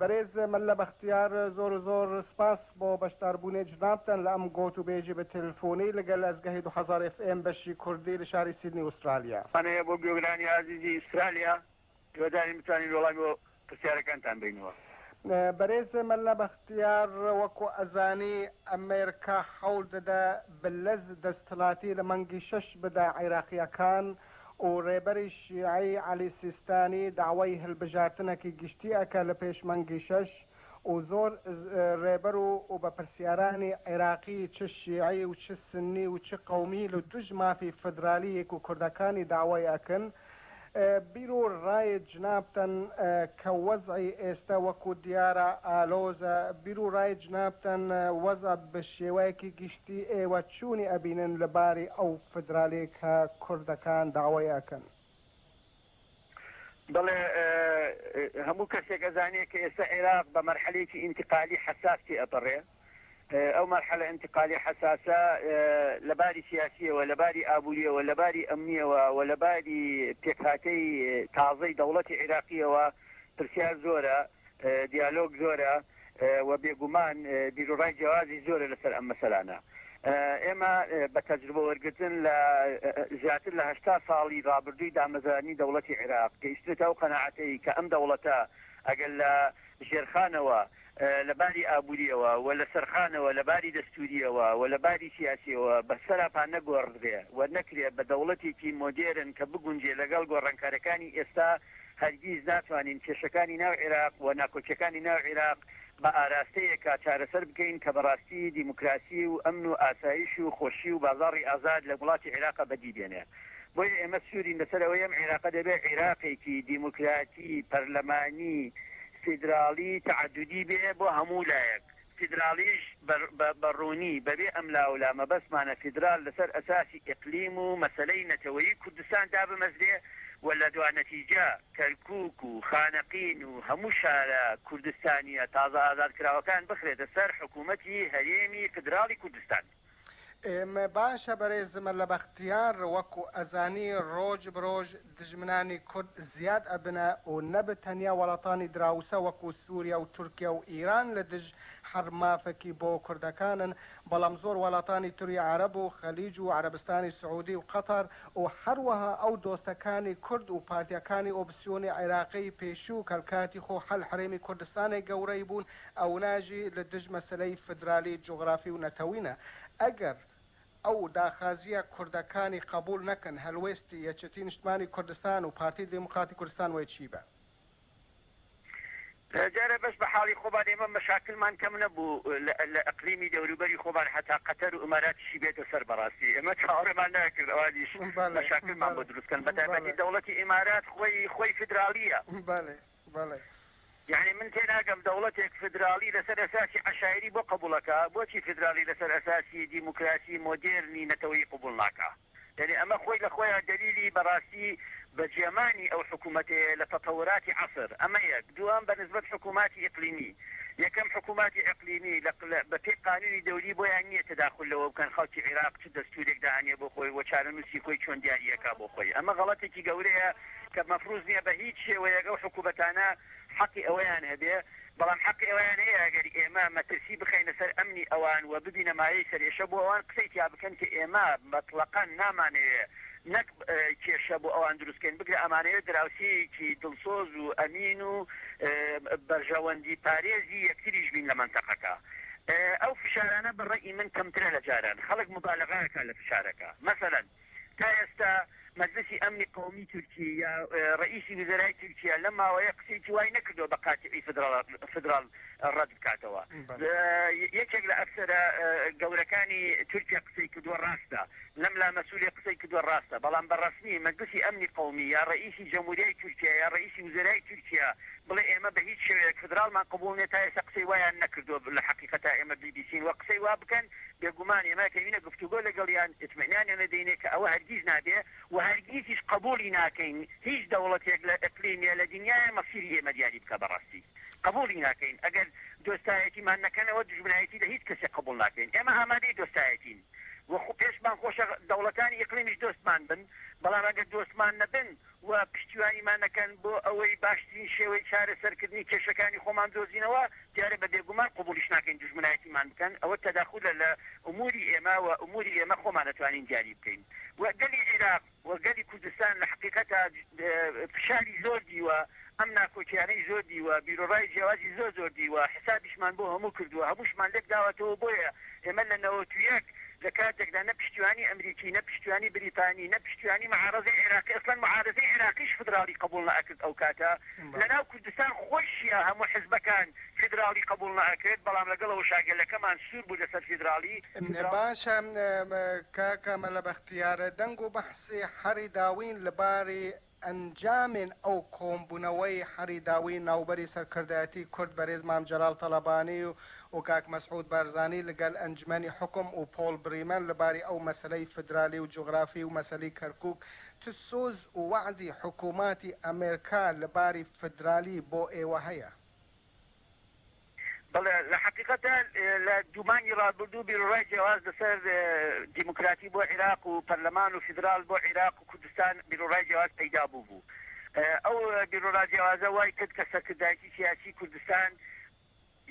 بەرێز مەلا بەختیار زۆر زۆر سپاس بۆ بەشداربوونێ جنابتان لە ئەم گۆت و بێژی بە تێلفۆنی لە گەل ئەزگەهی دو هەزار ئێف ئێم بەشی کوردی لە شاری سیدنی ئوسترالیا. هەنێیە بۆ گوێگرانی ئازیزی ئوسترالیا هیوادارین بتوانین وەڵامی بۆ پرسیارەکانتان بەینەوە. بەرێز مەلا بەختیار وەکو ئەزانی ئەمێرکا حەول دەدە بلەز دەستلاتی لە مانگی شەش بدە عیراقیەکان و رێبەری شیعەی عەلی سیستانی داوای هەلبژارتنەکی گشتی ئەکە لە پێش مەنگی شەش و زۆر رێبەر و و بەپرسیارانی عیراقی چ شیعی و چ سنی و چ قەومی لە دوژ مافی فدرالییگ و کوردەکانی داوای ئەکن بیر و رای جنابتن کە وەزعی ئێستە وەکو دیارە ئالۆزە بیر و رای جنابتن وەزع بە شێوەیەکی بیێوەچوونی ئەبینن لە باری ئەو فدرالیەی کە کوردەکان داوای ئەکەن. بەڵێ هەموو کەسێک ئەزانێ کە ئێستا عێراق بە مەرحەلەیەکی ئینتقالی حەساس تێ ئەپەڕێ ئەو مەرحەلە ئینتقالی حەساسە لە باری سیاسیەوە لە باری ئابووریەوە لە باری ئەمنیەوە وە لە باری پێکهاتەی تازەی دەوڵەتی عێراقیەوە پرسیار زۆرە دیالۆگ زۆرە و بێگومان بیروڕای جیاوازی زۆرە لەسەر ئەم مەسەلانە. ئێمە بە تەجروبە وەرگرتن لە زیاتر لە هەشتا ساڵی ڕابردووی دامەزرانی دەوڵەتی عیراق گەیشتنەتە ئەو قەناعەتەی کە ئەم دەوڵەتە ئەگەر لە ژێرخانەوە لە باری ئابوورییەوە و لە سەرخانەوە لە باری دەستوورییەوە و لە باری سیاسییەوە بە سەراپا نەگۆڕدرێ و نەکرێ بە دەوڵەتێکی مۆدێرن کە بگونجێ لەگەڵ گۆڕانکارییەکانی ئێستا هەرگیز ناتوانین کێشەکانی ناو عیراق و ناکۆکیەکانی ناو عیراق بە ئاراستەیەکا چارەسەر بکەین کە بەڕاستی دیموکراسی و ئەمن و ئاسایش و خۆشی و بازاڕی ئازاد لە وڵاتی عیراقا بەدی بێنێ بۆیە ئێمە سوورین لەسەر ئەوەی ئەم عیراقە دەبێ عیراقێکی دیموکراتی پەرلەمانی فیدراڵی تەعەدودی بێ بۆ هەموو لایەک فیدراڵیش بە ڕوونی بەبێ ئەملاولا مەبەستمانە فیدراڵ لەسەر ئەساسی ئیقلیم و مەسەلەی نەتەوەیی کوردستان دابمەزرێ و لە دوا نەتیجە کەرکووک و خانەقین و هەموو شارە کوردستانییە تازە ئازادکراوەکان بخرێتە سەر حکوومەتی هەرێمی فیدراڵی کوردستان. ئێمە باشە بەرێزم لە بەختیار وەکو ئەزانی ڕۆژ برۆژ دژمنانی کورد زیاد ئەبنە و نەبت تەنیا وەڵاتانی دراوسە وەکو سوریا و تورکیا و ئیران لە دژ هەر مافەکی بۆ کوردەکانن بەڵام زۆر وەڵاتانی تری عەرەب و خلیج و عەرەبستانی سعودی و قەتەر و هەروەها ئەو دۆستەکانی کورد و پارتیەکانی ئۆپسیۆنی عێراقی پێشوو کەلکاتی خۆ هەل حرێمی کوردستانێ گەورەی بوون ئەوناژی لە دژ مەسەلەی فدرالی جوغرافی و نەتەوینە ئەگەر ئەو داخازیە کوردەکانی قەبوول نەکەن هەلوێستی یەکێتی نیشتمانی کوردستان و پارتی دیموکراتی کوردستان وەی چی بە. جارێ بەس بە حاڵی خۆمان ئێمە مەشاکلمان کەم نەبوو لە ئەقلیمی دەوروبەری خۆمان هەتا قەتەر و ئماراتیشی بێتە سەر بەڕاستی ئێمە چاوەڕێمان ناکرد ئەوانیش مەشاکلمان بۆ دروست کەن بەتایبەتی دەوڵەتی ئمارات خۆی خۆی فدرالیە یەعنی من تێناگەم دەوڵەتێک فیدراڵی لەسەر ئەساسی عەشایری بۆ قبوڵەکا بۆچی فیدراڵی لەسەر ئەساسی دیموکراسی مۆدێرنی نەتەوەیی قبوڵ ناکا؟ یەعنی ئەمە خۆی لە خۆیا دەلیلی بەڕاستی بەجێمانی ئەو حکومەتەیە لە تەتەوراتی عەسر ئەمە یەک دووەم بە نسبەت حکوماتی ئیقلیمی یەکەم حکوماتی ئیقلیمی لە بە پێی قانونی دەولی بۆیان نیە تەداخول لەوە بکەن خەڵکی عیراق چ دەستورێک دائەنێ بۆ خۆی و چارەنوسی خۆی چۆن دیاری ئەکا بۆ خۆی ئەمە غەڵەتێکی گەورەیە کە مەفروز نیە بە هیچ شێوەیەک ئەو حکومەتانە حەقی ئەوەیان هەبێ، بەڵام حەقی ئەوەیان هەیە ئەگەر ئێمە مەترسی بخەینە سەر ئەمنی ئەوان و ببینە مایەی سەرئێشە بۆ ئەوان قسەی تیا بکەن کە ئێمە مەتڵەقا نامانەوێ نەک کێشە بۆ ئەوان دروست کەین بگرە ئەمانەوێ دراوسێیەکی دڵسۆز و ئەمین و بەرژەوەندی پارێزی یەکتریش بین لە مەنتەقەکە ئەو فشارانە بە ڕەئی من کەمترە لە جاران خەڵک مبالەغە ئەکا لە فشارەکە مەسەلەن تا ئێستا مەجلسی ئەمنی قەومی تورکیە یا ڕەئیسی وزەرای تورکیە لەم ماوەیە قسەیەکی وای نەکردوە بە قاتیی فدراڵ ڕەد بکاتەوە. یەکێک لە ئەفسەرە گەورەکانی تورکیە قسەی کردوە ڕاستە، لەم لا مەسولی قسەی کردوە ڕاستە، بەڵام بە ڕەسمی مەجلسی ئەمنی قەومی یا ڕەئیسی جەموریای تورکیە یا ڕەئیسی وزەرای تورکیە بڵێ ئێمە بە هیچ شێوەیەک فدراڵمان قبوڵ نیە تا ئێستا قسەی وایان نەکردوە لە حەقیقەتا ئێمە بی بی سین وە قسەی وا بکەن بێگومان ئێمە ئەکەوینە گفتوگۆ لەگەڵیان، ئیتمئنانیان ئەدەینێ کە ئەوە هەرگیز نابێ و هەرگیزیش قەبووڵی ناکەین هیچ دەوڵەتێک لە ئیقلیم یا لە دنیایێ مەسیری ئێمە دیاری بکا بە ڕاستی قەبووڵی ناکەین ئەگەر دۆستایەتیمان نەکەنەوە دوژمنایەتی لە هیچ کەسێک قەبووڵ ناکەین ئێمە ئامادەی دۆستایەتین و پێشمان خۆشە دەوڵەتانی ئیقلیمیش دۆستمان بن بەڵام ئەگەر دۆستمان نەبن و پشتیوانیمان نەکەن بۆ ئەوەی باشترین شێوەی چارەسەرکردنی کێشەکانی خۆمان بدۆزینەوە، دیارە بە بێگومان قبوڵیش ناکەین دوژمنایەتیمان بکەن، ئەوە تەداخولە لە ئموری ئێمە و ئموری ئێمە خۆمان ئەتوانین دیاری بکەین و گەلی عیراق و گەلی کوردستان لە حەقیقەتا فشاری زۆر دیوە ئەم ناکۆکیانەی زۆر دیوە، بیروڕای جیاوازی زۆر زۆر دیوە، حسابیشمان بۆ هەموو کردووە، هەمووشمان لێک داوەتەوە، بۆیە ئێمە لە نەوەت و یەک لە کاتێکدا نە پشتیوانی ئەمریکی، نە پشتیوانی بریتانی، نە پشتیوانی معارەزەی عێراقی، ئەسڵەن معارەزەی عێراقیش فیدراڵی قەبووڵ نەئەکرد ئەو کاتە، لە ناو کوردستان خۆیشیا هەموو حزبەکان فیدراڵی قەبووڵ نەئەکرد، بەڵام لەگەڵ ئەوەشا گەلەکەمان سوور بوو لەسەر فیدراڵی. باشە کاکە مەلا بەختیار، دەنگ و بەحسی حەڕی داوین لە باری ئەنجامێن ئەو کۆمبونەوەی حەری داوی ناوبەری سەرکردایەتی کورد بەرێز مام جەلال تەڵەبانی و کاک مەسعود بارزانی لگەل ئەنجمەنی حوکم و پۆڵ بریمەن لەباری ئەو مەسەلەی فدرالی و جوغرافی و مەسەلی کەرکوک چ سوز و وەعدی حکوماتی ئەمرکا لەباری فدرالی بۆ ئێوە هەیە؟ بەڵێ لە حەقیقەتدا لە دوو مانگی ڕابردوو بیروڕای جیاواز لەسەر دیموکراتی بۆ عیراق و پەرلەمان و فیدرال بۆ عیراق و کوردستان بیروڕای جیاواز پەیدا بووبوو. ئەو بیروڕا جیاوازە وای کرد کە سەرکردایەتی سیاسی کوردستان،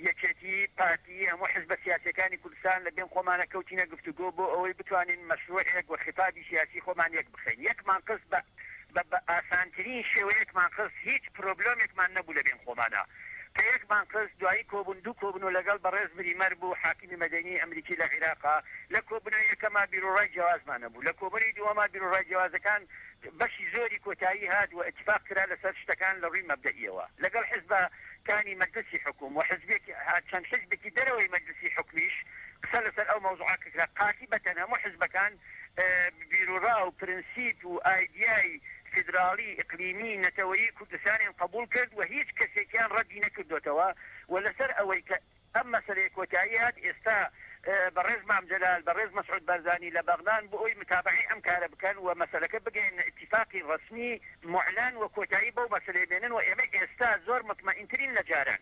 یەکێتی، پارتی، هەموو حزبە سیاسییەکانی کوردستان لە بێن خۆمانە کەوتینە گفتوگۆ بۆ ئەوەی بتوانین مەشرووعێک و خیتابی سیاسی خۆمان یەک بخەین. یەکمان خست بە بە ئاسانترین شێوە یەکمان خست، هیچ پرۆبلۆمێکمان نەبوو لە بێن خۆمانا. کە یەک مانگ پس دوایی کۆبوون دوو کۆبن و لەگەڵ بەڕێز مریمەر بوو حاکمی مەدەنی ئەمریکی لە عیراقا لە کۆبونەوە یەکەما بیروڕای جیاوازمان هەبوو لە کۆبونەوی دووەما بیروڕای جیاوازەکان بەشی زۆری کۆتایی هات و ئیتفاق کرا لەسەر شتەکان لە ڕووی مەبدەئیەوە لەگەڵ حیزبە کانی مەجلسی حکوم و حیزبێک چەند حیزبێکی دەرەوەی مەجلسی حکومیش قسە لەسەر ئەو مەوزوعە ککرا پارتی بەتەن هەموو حیزبەکان بیروڕا و پرنسیپ و ئایدیای فیدراڵی، ئیقلیمی، نەتەوەیی کوردستانیان قەبووڵ کرد و هیچ کەسێکیان ڕەدی نەکردۆتەوە و لەسەر ئەوەی کە ئەم مەسەلەیە کۆتایی هات ئێستا بەڕێز مام جەلال، بەڕێز مەسعود بارزانی لە بەغدان بۆ ئەوی متابەعەی ئەم کارە بکەن و مەسەلەکە بگەیەننە ئیتیفاقی ڕەسمی موعلەن و کۆتایی بەو مەسەلەیە بێنن و ئێمە ئێستا زۆر متمەئینترین لە جاران.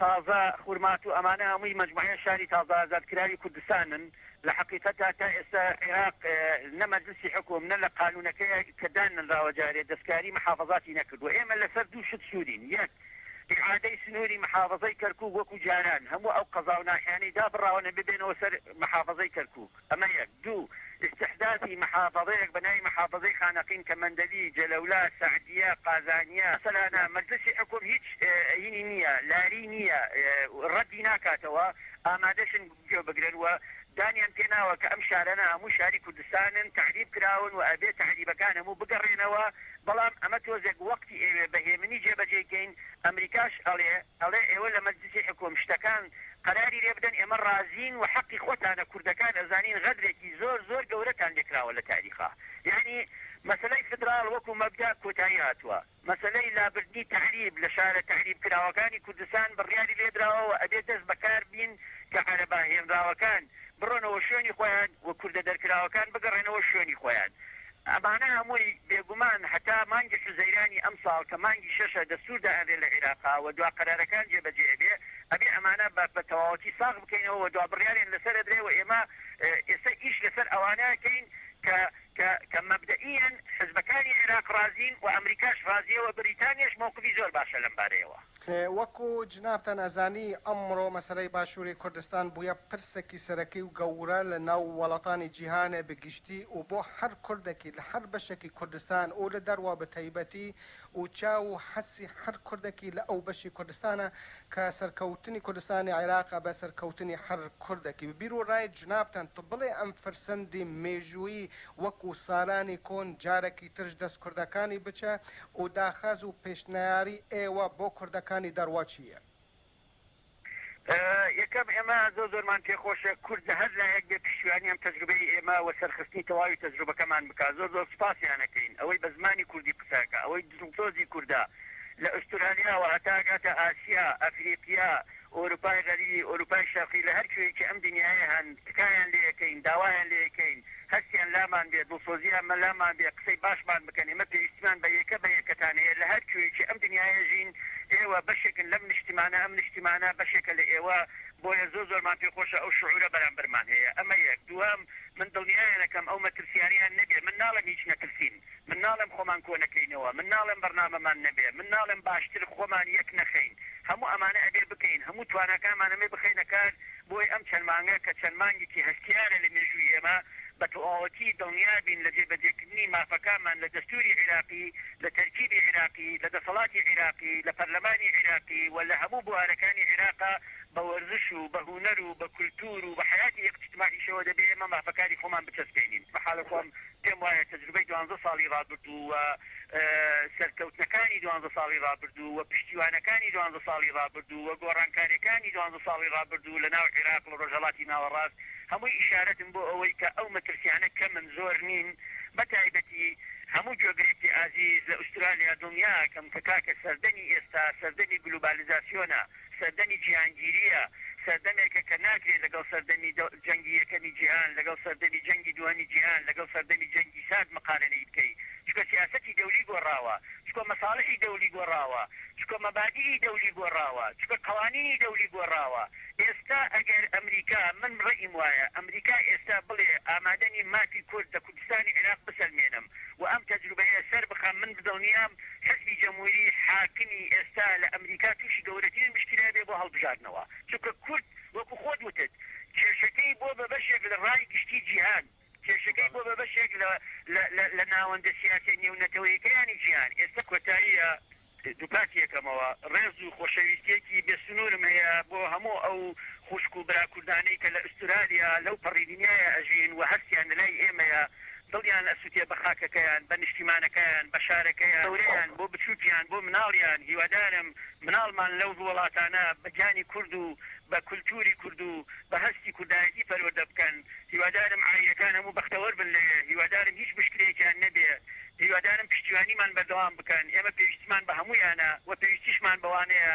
تازە خورمات و ئەمانە هەمووی مەجموعەیە شاری تازە ئازادکراوی کوردستانن لە حەقیقەتا تا ئێستا عێراق نە مەجلسی حوکم نە لە قانونەکەیا کە داننراوە جارێ دەستکاری محافەزاتی نەکردوە ئێمە لەسەر دوو شت سوورین یەک ئیعادەی سنووری محافەزەی کەرکوک وەکو جاران هەموو ئەو قەزاو ناحیانەی دابڕاوە نەبێ بێنەوە سەر محافەزەی کەرکوک ئەمە یەک. دوو، ئیستیحداسی مەحافەزەیەک بە ناوی مەحافەزەی خانەقین کە مەندەلی، جەلەولا، سەعدیە، قازانیە. مەسەلانە مەجلسی حوکم هیچ ئەیینی نیە، لاری نیە، ڕەدی ناکاتەوە، ئامادەشن گوێ بگرن و دانیان پێ ناوە کە ئەم شارانە هەموو شاری کوردستانن، تەعریب کراون و ئەبێ تەعریبەکان هەموو بگەڕێنەوە، بەڵام ئەمە تۆزێک وەقتی ئەیوێ بە هێمنی جێبەجێی کەین، ئەمریکاش ئەڵێ. ئەڵێ ئێوە لە مەجلیسی حکوم شتەکان قەراری لێ بدەن ئێمە ڕازین و حەقی خۆتانە کوردەکان ئەزانین غەدرێکی زۆر زۆر گەورەتان لێ کراوە لە تاریخا یەعنی مەسەلەی فدراڵ وەکو مەبدا کۆتایی هاتوە مەسەلەی لابردنی تەعریب لە شارە تەعریب کراوەکانی کوردستان بڕیاری لێ دراوە و ئەبێ دەست بە کار بین کە عەرەبە هێنراوەکان بڕۆنەوە شوێنی خۆیان و کوردە دەرکراوەکان بگەڕێنەوە شوێنی خۆیان ئەمانە هەمووی بێگومان هەتا مانگی حوزەیرانی ئەمساڵ کە مانگی شەشە دەستور دائەنرێ لە عیراقا و دوا قەرارەکان جێ بەجێ ئەبێ ئەبێ ئەمانە بە بە تەواوەتی ساغ بکەینەوە و دوا بڕیاریان لەسەر ئەدرێ و ئێمە ئێستا ئیش لەسەر ئەوانە ئەکەین کە کە کە مەبدەئیەن حزبەکانی عیراق ڕازین و ئەمریکاش ڕازیە و بریتانیاش مەوقفی زۆر باشە لەم بارەیەوە. کە وەکو جنابتان ئەزانی ئەمڕۆ مەسەلەی باشوری کوردستان بویە پرسەکی سەرەکی و گەورە لە ناو وەڵاتانی جیهانێ بە گشتی و بۆ هەر کوردەکی لە هەر بەشەکی کوردستان و لە دەروا بە تایبەتی و چاو و حەسی هەر کوردەکی لە ئەو بەشی کوردستانە کە سەرکەوتنی کوردستانی عیراقە بە سەرکەوتنی هەر کوردەکی بە بیر و ڕای جنابتان تو بڵێ ئەم فرسەندی مێژوویی وەکو سالانی کۆن جارەکی ترش دەست کوردەکانی بچە و داخاز و پێشنیاری ئێوە بۆ کوردەکانی دەڕوە چییە؟ یەکەم، ئێمە زۆر زۆرمان پێخۆشە کورد لە هەر لایەک بێ پشتیوانی ئەم تەجروبەی ئێمە و سەرخستنی تەواوی تەجروبەکەمان بکا، زۆر زۆر سوپاسیان ئەکەین، ئەوەی بە زمانی کوردی قسە ئەکا، ئەوەی دڵسۆزی کوردە لە ئوسترالیاوە هەتا ئەگاتە ئاسیا، ئەفریقیا، ئۆروپای غەریب، ئۆروپای شەرقی لە هەر کوێیەکی ئەم دنیایە هەن، تکایان لێ ئەکەین، داوایان لێ ئەکەین، هەستیان لامان بێ، دڵسۆزییان لامان بێ، قسەی باشمان بکەن، ئێمە پێویستیمان بە یەکە بە یەکەتان هەیە، لە هەر کوێیەکی ئەم دنیایە ژین، ئێوە بەشێکن لەم نیشتیمانە، ئەم نیشتیمانە بەشێکە لە ئێوە، بۆیە زۆر زۆرمان پێ خۆشە ئەو شعورە بەرامبەرمان هەیە، ئەمە یەک، دووەم، من دڵنیایان ئەکەم ئەو مەترسییانەیان نەبێ، من ناڵێم هیچ نەترسین، من ناڵێم خۆمان کۆنەکەینەوە، من ناڵێم بەرنامەمان نەبێ، من ناڵێم باشتر خۆمان یەک نەخەین، هەموو ئەمانە ئەبێ بکەین، هەموو تواناکانمان ئەمێ بخەینە کار بۆی ئەم چەند مانگە کە چەند مانگێکی هەستیارە لە مێژووی ئێمە بە تەواوەتی دڵنیابین لە جێبەجێکردنی مافەکانمان لە دەستووری عیراقی، لە تەرکیبی عیراقی، لە دەسەڵاتی عیراقی، لە پەرلەمانی عیراقی و لە هەموو بوارەکانی عیراقا بە وەرزش و بە هونەر و بە کولتوور و بە حەیاتی ئیقتیتماعیشەوە دەبێ ئێمە مافەکانی خۆمان بچەسپێنین. بە حاڵی خۆم پێم وایە تەجروبەی دوانزە ساڵی ڕابردوو و سەرکەوتنەکانی دوانزە ساڵی ڕابردوو و پشتیوانەکانی دوانزە ساڵی ڕابردوو و گۆڕانکاریەکانی دوانزە ساڵی ڕابردوو لە ناو عیراق و ڕۆژهەڵاتی ناوەڕاست هەمووی ئیشارەتن بۆ ئەوەی کە ئەو مەترسیانە کەمن زۆر نین بە تایبەتی هەموو گوێگرێکی ئازیز لە ئوسترالیا دڵنیاکەم کە کاکە سەردەمی ئێستا سەردەمی گلوبالیزاسیۆنە. سەردەمی جیهانگیرییە، سەردەمێکە کە ناکرێت لەگەڵ سەردەمی جەنگی یەکەمی جیهان، لەگەڵ سەردەمی جەنگی دووهەمی جیهان، لەگەڵ سەردەمی جەنگی سارد مقارەنەی بکەی، چونکە سیاسەتی دەولی گۆڕاوە، چونکە مەساڵحی دەولی گۆڕاوە، چونکە مەبادیئی دەولی گۆڕاوە، چونکە قەوانینی دەولی گۆڕاوە. ئێستا ئەگەر ئەمریکا، من ڕەئیم وایە، ئەمریکا ئێستا بڵێ ئامادە نیم مافی کورد لە کوردستانی عیراق بسەلمێنم و ئەم تەجروبەیە سەربخەم، من دڵنیام حزبی جموری حاکمی ئێستا لە ئەمریکا توشی گەورەترین مشکیلە بێ بۆ هەڵبژاردنەوە چونکە کورد وەکو خۆت وتت کێشەکەی بۆ بە بەشێک لە ڕای گشتی جیهان کێشەکەی بۆ بە بەشێک لە لە لە لە ناوەندە سیاسیە نێو نەتەوەیەکەیانی جیهان ئێستا کۆتاییە دوپاتی یەکەمەوە ڕێز و خۆشەویستیەکی بێ سنورم هەیە بۆ هەموو ئەو خوشک و برا کوردانەی کە لە ئوسترالیا لەو پەڕی دنیایە ئەژین و هەستیان لەلای ئێمەیە. دڵیان ئەسوتێ بە خاکەکەیان، بە نیشتیمانەکەیان، بە شارەکەیان، گەورەیان بۆ بچوکیان، بۆ مناڵیان، هیوادارم مناڵمان لەو ووڵاتانە بە گیانی کورد و بە کولتوری کورد و بە هەستی کوردایەتی پەروەردە بکەن، هیوادارم عایلەکان هەموو بەختەوەر بن لەوێ، هیوادارم هیچ مشکلەیەکیان نەبێ، هیوادارم پشتیوانیمان بەردەوام بکەن، ئێمە پێویستیمان بە هەموویانە و پێویستیشمان بەوانەیە،